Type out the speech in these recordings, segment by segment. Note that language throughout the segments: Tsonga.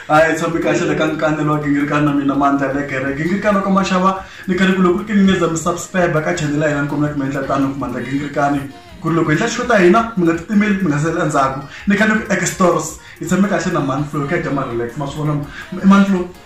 hayi tshambi kahle le ka nkanelo wa gingirikani na mina mandla ya le gere gingirikani wa ka maxava ni khale ku loko ri kiningeza mi subscribe ka chanele ya hina ni kombela ku mi endla tano ku mandla gingirikani ku ri loko hi ndla xo ta hina mi nga titimeli mi nga seli endzhaku ni khale ku extors hi tshame kahle na manflo ka dya ma-relax ma swi vona manflo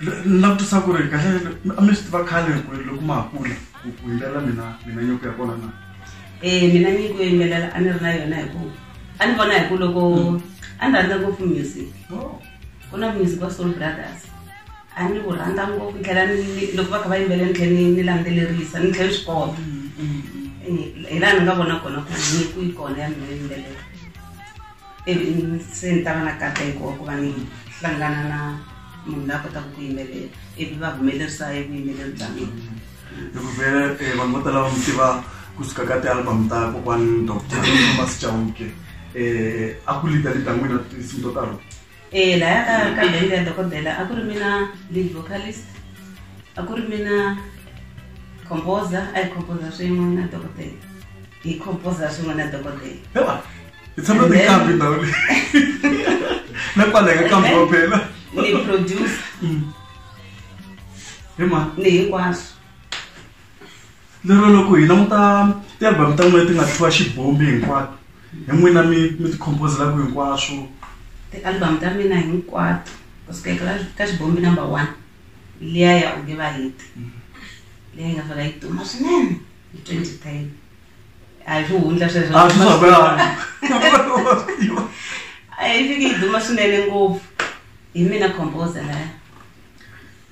ni langutisa ku ri kahle a mi swi tiva khale ku ri loko ma ha kula ku ku yimbelela mina mina nyiko ya kona na e mina nyiko yo yimbelela a ni ri na yona hi ku a ni vona hi ku loko hmm. a ni rhandza ngopfu music oh. ku na music wa soul brothers a ni wu rhandza ngopfu ni tlhela loko va kha va yimbele ni tlhela ni landzelerisa ni tlhela swi kota hmm, hmm, hi laha ni nga vona kona ku nyiko yi kona ya mina yimbelela se ni ta va na kateko wa ku va ni hlangana na munhu la kotaka ku yimelela ivi va humelerisa hi vuyimeleri bya mina hi ku vhele eh, vanhu vo tala va mi tiva kusuka ka tialbum ta kokwani dr thomas chauke um eh, a ku lida lida n'wina tinsimu to talo e laya ka ka bende ya dokodela a ku ri mina lead vocalist a ku ri mina composer a hi composer swin'we na dokodela hi composer swin'we na dokodela hi tshama tikambi ndhawu leyi na kwaleka kambi wa phela ni producer mm. hi ma ni hinkwaswo lero loko hi languta ti-album ta n'wina ti nga tlhiwa xibombi hinkwato hi n'wina mi mi ti-composelaka hinkwaswo ti-album ta mina hinkwato kusikekela ka xibombi number one liya ya u nge va hiti mm. leyi nga fika yi duma swinene hi twenty ten a hi swihundla sweswo a yi fiki yi duma swinene ngopfu hi mina composer laya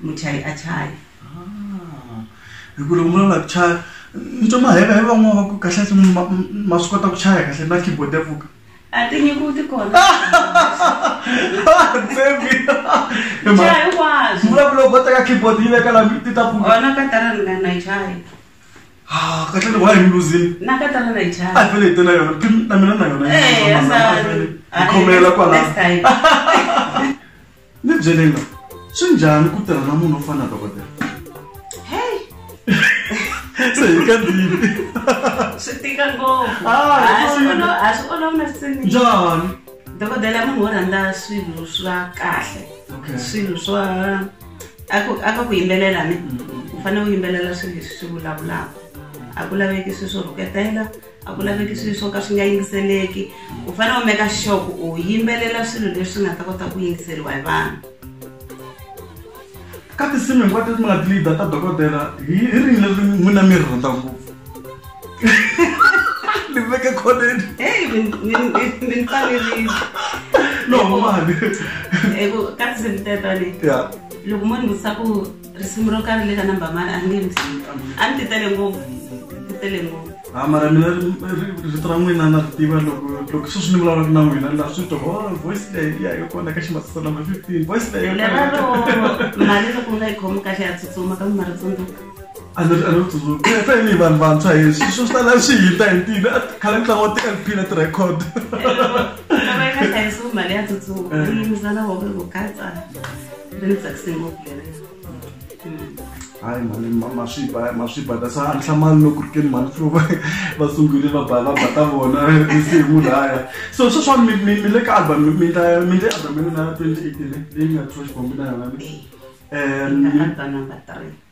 muchayi a chaya ah, hi ku loko munhu a lava ku chaya ni twa maheva hi van'wana va ku kahle ma swi kota ku chaya kahle na keyboard ya pfuka a ti nyiku ti kona vulavula go teka keyboard yi veka la ti ta pfuka ona ka tala ni nga na chaya Ah, kahle ni wahi mluzini na ka tala na chaya a fele tela yona na mina na yona eh, yi khomela kwala Ni byelela swi njhani ku tirha na munhu wo fana na dokodela? Hey! Se hi ka ndini. Swi tika ngopfu. Ah, a swi olova, a swi olova na sini. Njhani? Dokodela munhu wo rhandza swilo swa kahle. Okay. Swilo swa a ku a ka ku yimbelela ni. U fanele u yimbelela swilo leswi swi vulavulaka. A ku laveki swilo swo rhuketela. a ku laveki swilo swo ka swi nga yingiseleki u fanele u meka sure ku u yimbelela swilo leswi nga ta kota ku yingiseriwa hi vanhu ka tinsimu hinkwato leti mi nga tilida ta dokodela hi rini leri n'wina mi ri rhandza ngopfu ni veke khoneni ni tsanerile no mani ka tinsimu tetani loko mo ni vutisa ku risimu ro karhi le ka number mani a ni nge ndzi a ni ti tele ngopfu ti tele ngopfu a mara mina rito ra n'wina na ri tiva loko loko sweswi ni vulavulaka na n'wina la swi twa oh, voice leyi ya yo kona ka ximatisa number fifteen voice leyi leraro mali loko nga yi khomi kahle ya tsutsuma ka mimari tsundzuka a ni a ni tsundzuka se ni vanhu vantshwa hi swi swi tala swi hinda hi ntini khale ni tlanga wa ti-lp na ti-record loko yi nga hlayisiwi mali ya tsutsuma yi yimisa na voko hi ku katsa Ni tsakise ngopfu lerero. hayi mhani maswipa maswipa ta sa nhlamanyi loko ri keni mhani flo va sungule va ba va ba ta vona tinsimu laya so sweswani mi mi le ka album mi mi ndla mi ndle album ya n'wina ya twenty eighteen leyi nga thoxi bombi na yona mi um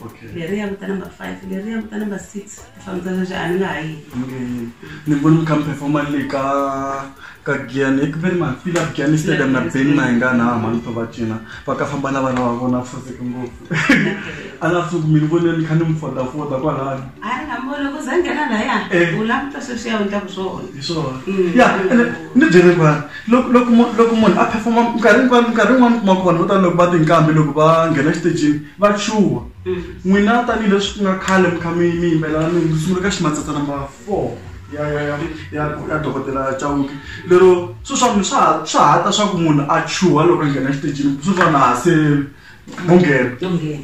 okay leyi ya vuta number five leyi ya vuta number six ti fambisa sweswi a ni nga ha yi ni voni mi kha mi performa le ka ka giani eku ve ni mafila giani stadium na beni na hi nga na mani to va cina va ka famba na vana va vona foseke ngopfu a nga suku mi ni vone ni kha ni mi fodafoda kwalani a ni nga mi voni ku za nghena laya eh. u languta sweswi ya undlaku swona hi swona mm. ya ene ni byele kwani loko loko loko munhu a performa nkarhi nkarhi nkarhi yin'wana kuma kona vo tala loko va tinkambi loko va nghena exitejini Vachuva, n'wina tanihi leswi ku nga khale mi kha mi mi yimbelela mi ndzi sungula ka ximatsatsa number four ya ya ya ya ya dokodela Chauke lero swi swa mi swa swa ha ta swa ku munhu a chuha loko a nghena exitejini swi swa na se mo nghena Yo nghena.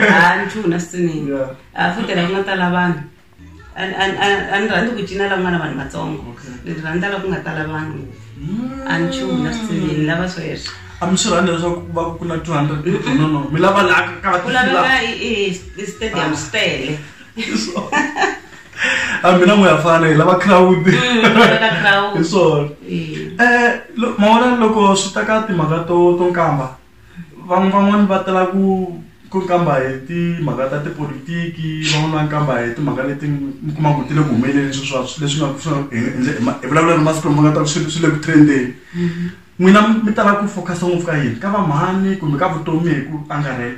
Ah, nchumu na switsiningi. Yeah. Ah, futela ku nga tala vanhu. a ni- a ni- a ni- a ni rhandzi ku cina la ku nga na vanhu vatsongo Okay. ni rhandza la ku nga tala vanhu a ni chumu na switsivini ni lava sweswo a mi swi rhandza leswaku ku va ku na 200 people no no mi lava laha ka ku laveka ka i- i- i stadium swi tele a mina n'we ya fana hi lava crowd Mm, ku laveka crowd. hi swona Eh. Eh, lo- mawona loko swi ta ka timhaka to to nkamba Vanhu van'wani va tala ku ku nkamba hi timhaka ta tipolotiki van'wani va nkamba hi timhaka leti mi kuma ku ti le ku humeleleni swi swa leswi nga swi nga hi endle hi ma hi vulavula na masiku lama nga ta ku swi swi le ku trend-eni n'wina mi tala ku focus-a ngopfu ka yini ka va mhani kumbe ka vutomi hi ku angarhela.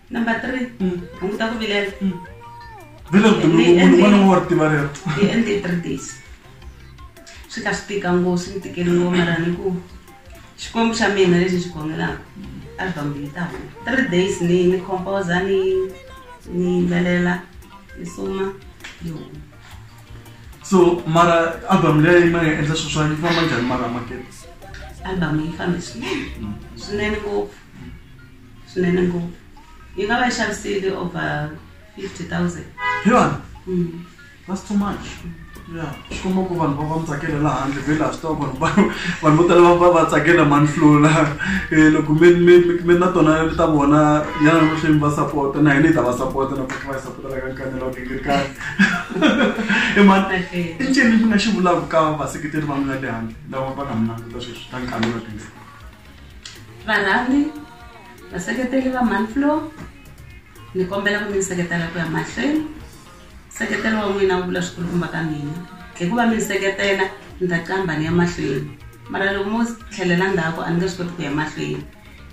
number three mm. hunguta ku vilela mm. hi endle three days swi ka swi tika ngo swi ni tikeli ngo mara ni ku xikwembu xa mina lexi xi khongelaka album leyi ta huma three days ni ni composa ni ni yimbelela ni suma yi huma so mara album leyi ma nga endla sweswa yi famba njhani mara makete album yi fambe swinene mm. swinene ngopfu swinene ngopfu yi nga va yi xavisile over fifty thousand hi vanhu Mm. that's too much ya swi komba ku vanhu va va mi tsakela laha handle vhele a swi tiva vanhu va vanhu vo tala va va va tsakela mani flula Eh, loko mi mi mi- mi na tona ta vona yana mahlweni va sapota na hina hi ta va sapota na va yi sapota la ka nkanya la genge kani i mani Okay. i ncini mi nga xi vulaka ka vaseketeri va mina le handle lava va nga mi languta sweswi ta nkanya la genge varhambi vaseketeli va manflow ni kombela ku mi ni seketela ku ya mahlweni seketelo wa n'wina wu vula swikulukumba ka mina hikuva mi ni seketela ni ta qamba ni ya mahlweni mara loko mo tlhelela ndzhaku a ni nge swi koti ku ya mahlweni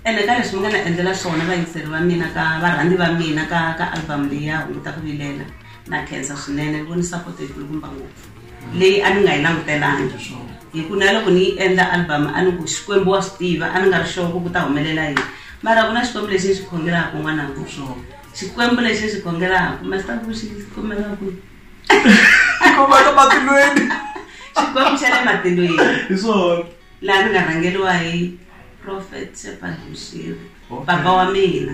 ene ka leswi mi nga ni endlela swona vayingiseri va mina ka varhandzi va mina ka ka album leyi ya hunguta ku vilela na khensa swinene ni voni support yikulukumba ngopfu leyi a ni nga yi langutelangi hi ku na loko ni yi endla album a ni ku xikwembu wa swi tiva a ni nga ri sure ku ku ta humelela yini mara ku na xikwembu lexi ni xi khongelaka n'wana ku swona xikwembu lexi ni xi khongelaka master vuxi khomela ku khoma ka matilweni xikwembu xa le matilweni hi swona laha ni nga rhangeriwa hi prophet sepalushiri papa wa mina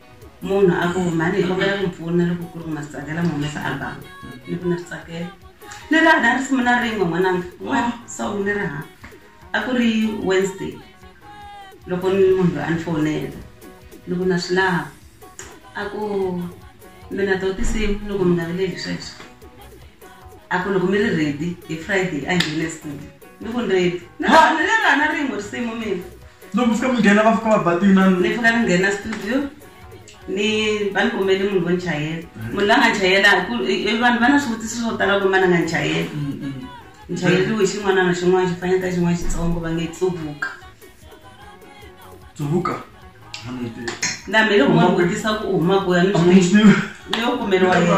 munhu a ku mhani hi kombela ku mpfuna loko ku ri nga swi tsakela mu humesa album ni ku na swi tsakela ni ri na risimu na rin'we n'wananga wa song ni ri ha a ku ri wednesday loko ni munhu loyi a ni fowunela ni ku na swi lava a ku mina to tinsimu ni ku mi nga vileli sweswo a ku loko mi ri ready hi friday a nghene studio ni ku ni ready ni ri hana rin'we risimu mina loko fika mi nghena va fika va batina ni fika ni nghena studio ni va ni kombeli munhu vo ni chayela mm. munhu la nga chayela vanhu va na swivutiso swo tala ku mana nga ni chayela mm, mm. ni chayeriwe xin'wana na xin'wana xi fanele ta xin'wana xitsongo va nge tsuvuka tsuvuka na mi loko munhu vutisa ku u huma kuya ni swi leyo kumeriwa yena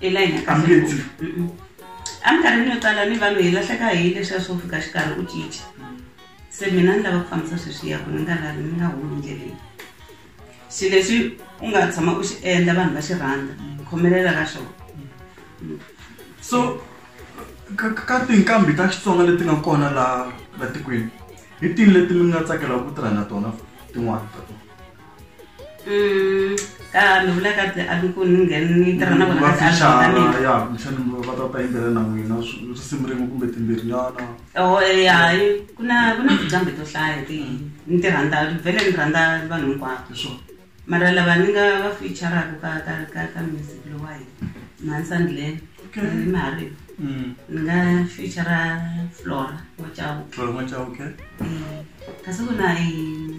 hi la hina ka mbilu eminkarhini yo tala ni vanhu hi lahleka hi leswiya swo fika xikarhi u cinca se mina ni lava ku fambisa sweswiya ku ni nga lavi ni nga humi ndleleni xi lexi u nga tshama u xi endla vanhu va xi rhandza khomelela ka xona so ka tinkambi ta xitsonga leti nga kona laha la tikweni hi tini leti mi nga tsakelaka ku tirha na tona tin'wana ta tona Mm, ka mi vula ka ti abi ku ni ngheni ni tirha na vona ka ti album ta mina ya kumbexani va ta ta yimbelela na n'wina swi- risimu rin'we kumbe timbirhinyana Oh, eh, hayi ku na ku na tinqambi to hlaya ti ni ti rhandza vhele ni rhandza vanhu hinkwavo hi swona mara lava ni nga va featuraka ka ka ka ka music lowa hi mansandlen Okay. ni mahariva Mm. ni nga featura flora wa chauke Flora Machauke. Eh, kasi ku na eh,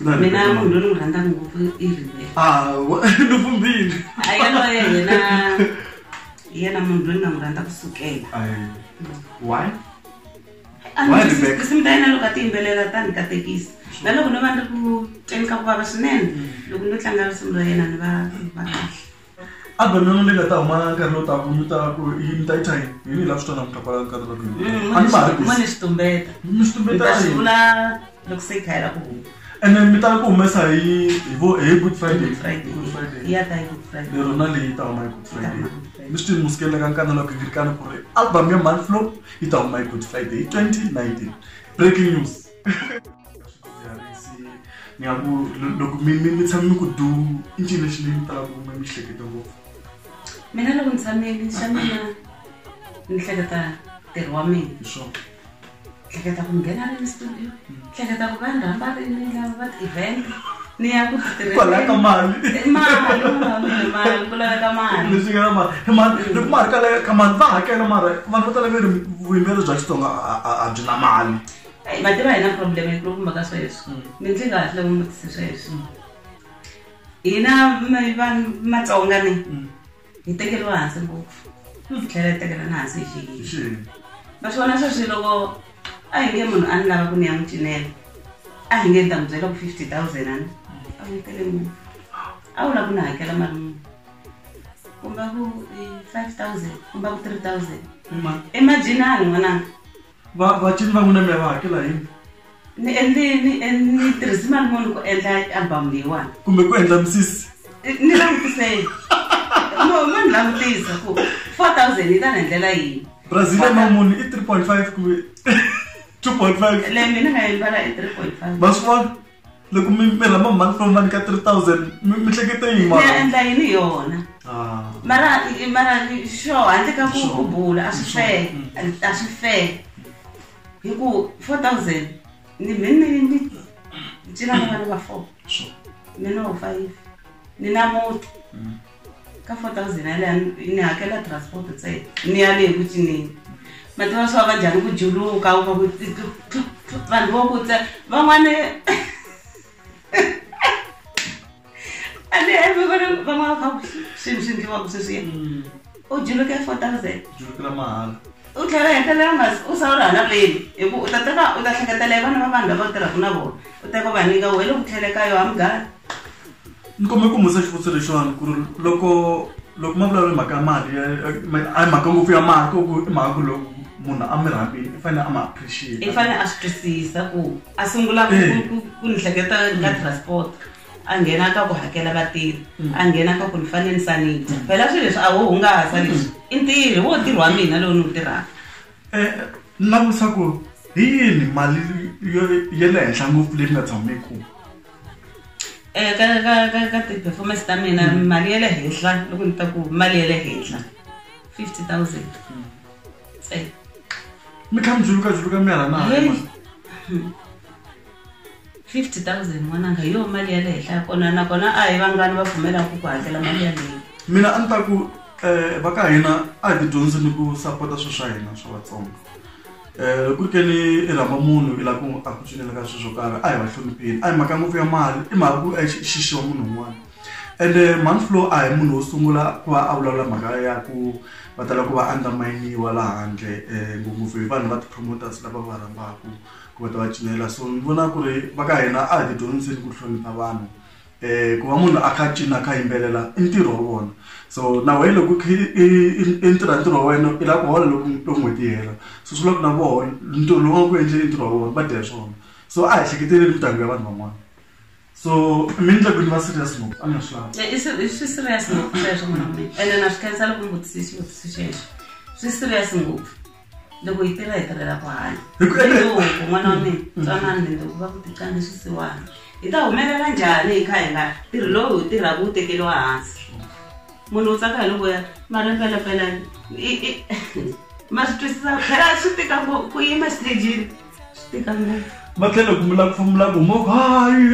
mina munhu loyi ni n'wi rhandzaka ngopfu i riveluvumbini ah, a yaloye yena hi yena munhu loyi ni nga n'wi rhandza ku sukela why tinsimu ta yena loko a ti yimbelela ta ni katekisa na loko ni va ni ri ku tweni ka ku vava swinene mm. loko ni tlanga risimu ra yena ni va va kahle album yona leyi nga ta huma nkarhi lowu taka mi ta ku yi mi ta yi thyini hi ni laha swi twanaka ta kwala nkarhi lowu mm, a ni ma hakisi ni swi tumbeta mi swi tumbeta a yi vula loko se khaya la ku huma and then mi tala ku humesa hi hi vo hi good friday friday good friday ya ta good friday lero na leyi ta huma hi good friday mi swi tini musikele ka nkana loko yi ri kana ku ri album ya month flow yi ta huma hi good friday 2019 breaking news mi loko mi mi mi tshame mi ku du i ncini lexi mi mi talaka ku mi mi hlekete ngopfu mina loko ni tshameli xa mina ni hleketa ntirho wa mina hi swona hleketa ku nghena rini studio hleketa ku va ni rhamba rini lava va ti-event ni ya ku titirhelaka mali mali ku laveka mali leswi nga na mali hi mali loko mali ka ka mali va hakela mara vanhu va tala ve ri vuyimbeleri bya xitsonga a byi na mali Hey, mativa hi na problem yikulukumba ka sweswo mm. mi ndzi nga hatla n'wi vutise sweswo mm. hina vanhu matsonga ni mm. hi tekeriwa hansi ngopfu hi tlhela hi tekela na hansi hi xiyini va swi vona sweswi loko a hi nge munhu a ni lava ku ni ya n'wi cinela a hi nge ni ta n'wi byela ku fifty thousand ani a wu tele munhu a wu lava ku ni hakela mali munhu kumba ku five thousand kumba ku three thousand imajini a ni n'wananga va va cini va n'wi na mi ya va hakela hi ni endli ni ni tirhisi mali munhu ku endla album leyiwani kumbe ku endla misisi ni langutiseni no ma ni langutisa ku four thousand yi ta ni endlela yini brazil ya mamuni i three point five kumbe two point five leyi mina nga yi mbala i three point five va swi vona loko mi mi rhamba month from month ka 3000 mi mi hleketa yini ni ya mara endla yini hi yona ah mara i- mara i- xo handle ka ku Sure. ku bula a swi Sure. fele Mm. a swi fele hi ku 4000 ni mi ni ni cina na vana va four sure mi no five ni na muti Mm. ka 4000 yaleya ni hakela transport ntsena ni ya leyi ku cineni mativa swi va va njhani ku juluka u va ku vanhu vo ku tse van'wani a ni hemi va ri van'wana va kha ku swilo swi ndliwaka sweswiya u juluke 4000 Julukela mahala. U tlhela a hetelela a nga si u sawula hala veni, hi ku u ta teka u ta hleketela hi vana va vanhu lava u tirhaka na vona u teka u va nyika wehe loko u tlhele ka yo hamugani. Ni kombela ku mi vutisa xivutiso lexiwani ku ri loko loko ma vulavula hi mhaka ya mali ya a hi mhaka ngopfu ya mali ko ku i mhaka ku loko munhu a mi rhambile i fanele a mi appreciate-a. I fanele a swi twisisa ku a sungula ku ku ku ni hleketa ka transport. a nghena ka ku hakela vatirhi mm. a nghena ka ku ni fanele ni sanita mm. phela swilo leswi a wo hungasa mm. leswi i ntirhi wo ntirho wa mina lowu ni wu tirhaka eh, ni langutisa ku hi yini mali ya le henhla ngopfu leyi nga tshameku um eh, ka ka ka ka ti-performance ta mina mali ya le henhla loko ni ta ku mali ya le henhla fifty thousand eh. mi kha mi dzuluka dzuluka mi hala na fifty thousand n'wananga hi yoho mali ya le henhla ya kona nakona a hi vangani va pfumelaka ku hakela mali yaleyo mina a ni ta ku um eh, va ka hina a hi tidyondzi ni ku sapota swilo swa hina swa vatsongo um loko ri ke ni i rhamba munhu i lava ku a ku cinela ka swilo swo karhi a hi va hlonipheni a hi mhaka ngopfu ya mali i mhaka ku eh, xixiwa munhu un'wana ende eh, manflow a hi munhu wo sungula ku va a vulavula mhaka ya ku va tala ku va underminiwa laha handle um ngopfungopfu hi vanhu va ti-promoters lava va rhambaka ku va ta va cinela so ni vona ku ri va ka hina a hi tidyondziseni ku hlonipha vanhu um ku va munhu a kha cina a kha yimbelela i ntirho wa vona so na wena loko i ntirha ntirho wa wena i lava ku hola loko loko n'hweti yi hela so swi loko na vona ntirho lowu va ku endleni ntirho wa vona va dya hi swona so a hi ehleketeleli mindyangu ya vanhu van'wana so mi ni tlakwini va serious ngopfu a ni swi lava i swi swi serious ngopfu sweswo munhu mina ene na swi khensa loko mvutisi xivutisi xexo swi serious ngopfu loko yi tirha hi tirhela ku hanya loko n'wana wa mina twanani ni loko va ku tiqange swisiwana hi ta humelela njhani hi kha hi nga tirhi lowu hi tirhaka wu tekeriwa hansi munhu u tsaka hi loko ya mara mpelampela ma swi twisisa phela swi tika ku yima xitejini va tlhela ku mila kufumula ku mo hayi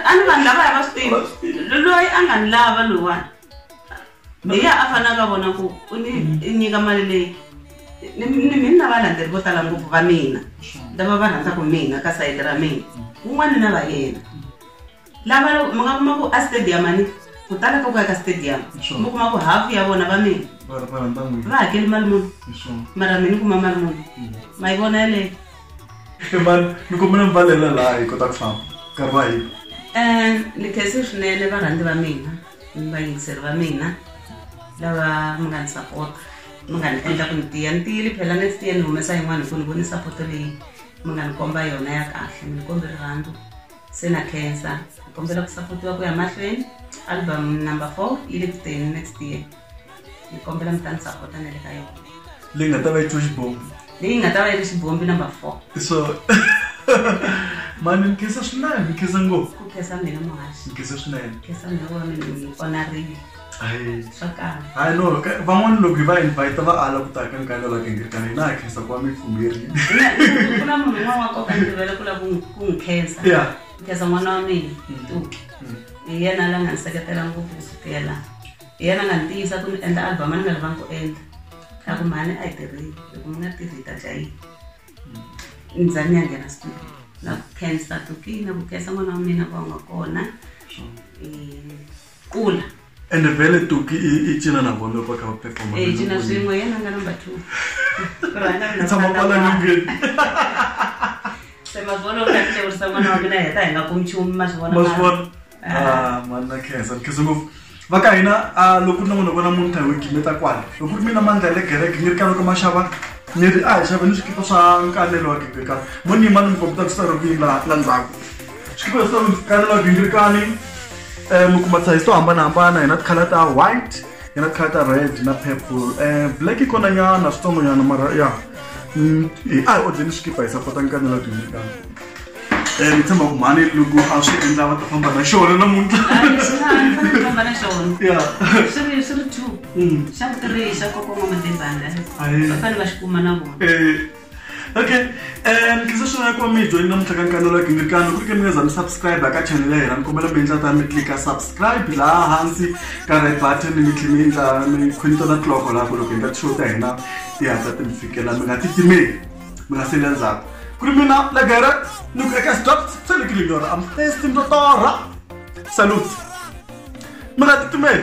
a ni vanhu lava ya va swi tivi loyi a nga ni lava loyiwani hi ya a fanele ka vona ku u ni nyika mali leyi ni mini na valandzeri vo tala ngopfu va mina lava va rhandzaka mina ka sayiti ra mina un'wana na va yena lava loko mi nga kuma ku a stadium ani ku tala ka ku ya ka stadium mi kuma ku half ya vona va mina va hakeli mali muni mara mi ni kuma mali muni ma yi vona yeleyo emani mi kombela mivalela laha hi kota ku famba nkarhi wa hina um ni khese swinene varhandzi va mina ni vayingiseri va mina lava mi nga ni sapota mi nga ni endla ku ni tiya ni tiyile phela ni tiya ni humesa yin'wana hi ku ni voni sapoto leyi mi nga ni komba yona ya kahle mi ni kombe rirhandzu se na khensa hi kombela ku sapotiwa ku ya mahlweni album number four yi le ku teni next year hi kombela mi ta ni sapota na le ka yona leyi nga ta va yi twe xibombi leyi nga ta va yi ri xibombi number four so mani ni khensa swinene ni khensa ngopfu ku khensa mina muhaxi ni khensa swinene khensa mina wa mina ni onarile Hayi. swa kala Hayi no, ka- van'wana loko hi va invite va ala ku ta ka nkalo la kengerekana hina ha khensa ku wa mi fumbirhi. ku na munhu un'wana wa koka ndzi rivele ku la ku n'wi- ku n'wi khensa Yeah. Ku khensa n'wana wa mina tuki hi yena la nga ni seketela ngopfu ku sukela hi yena a nga ni tiyisa ku ni endla album a ni nga livangi ku endla a ku mhani a yi tirhile loko mi nga tirhi hi ta dya yini ni za ni ya nghena studio na ku khensa tuki na ku khensa n'wana wa mina ku va nga kona Eh, kula ende vele tuki icina na vona paka performa eh cina swingo yena nga number 2 rana na tsama pala ngin sema vona u kahle u sa mwana wa mina heta hi nga kumi chumi ma swi vona ma swi vona ah, ah manna khensa khensa ngopfu va ka hina ah, loko ni n'wi ni vona munhu tahi wiki meta kwala loko ri mina mandla ya le gereke ni ri ka loko ma xava ni ri a hi xave ni swikipa swa nkanelo wa gibeka mo ni ma ni mi kombeta ku sita ro vini la ndzhaku xikipa lexi ni vitana mavingirikani um mi kuma size to hambanahambana hi na tikhala ta white hi na tikhala ta red na purple um black yi kona nyana switsongo nyana mara ya mm, a hi odleni xikipa hi sapota nkanela vingirikani um ni tshemba ku mhani loko a swi endla va ta famba na xona namuntlha ya mm. xa ku tirhi xa kokoma madebanga va fanele va xi kuma na vona eh, okay um tlisa xana ku va mi hi joyini namuntlha ka nkani lola gingirikano ku ri ke mi nga za mi subscribe ka channel ya hina ni kombela mi endla ta mi tlika subscribe laha hansi ka red button mi tlhe mi endla mi khonita na cloko laha ku loko hi nga tishow ta hina ti hatla ti mi fikela mi nga titimeli mi nga seli endzhaku ku ri mina legere ni ku eka stop tselekile nyora am testi ndotora salute mi nga titimeli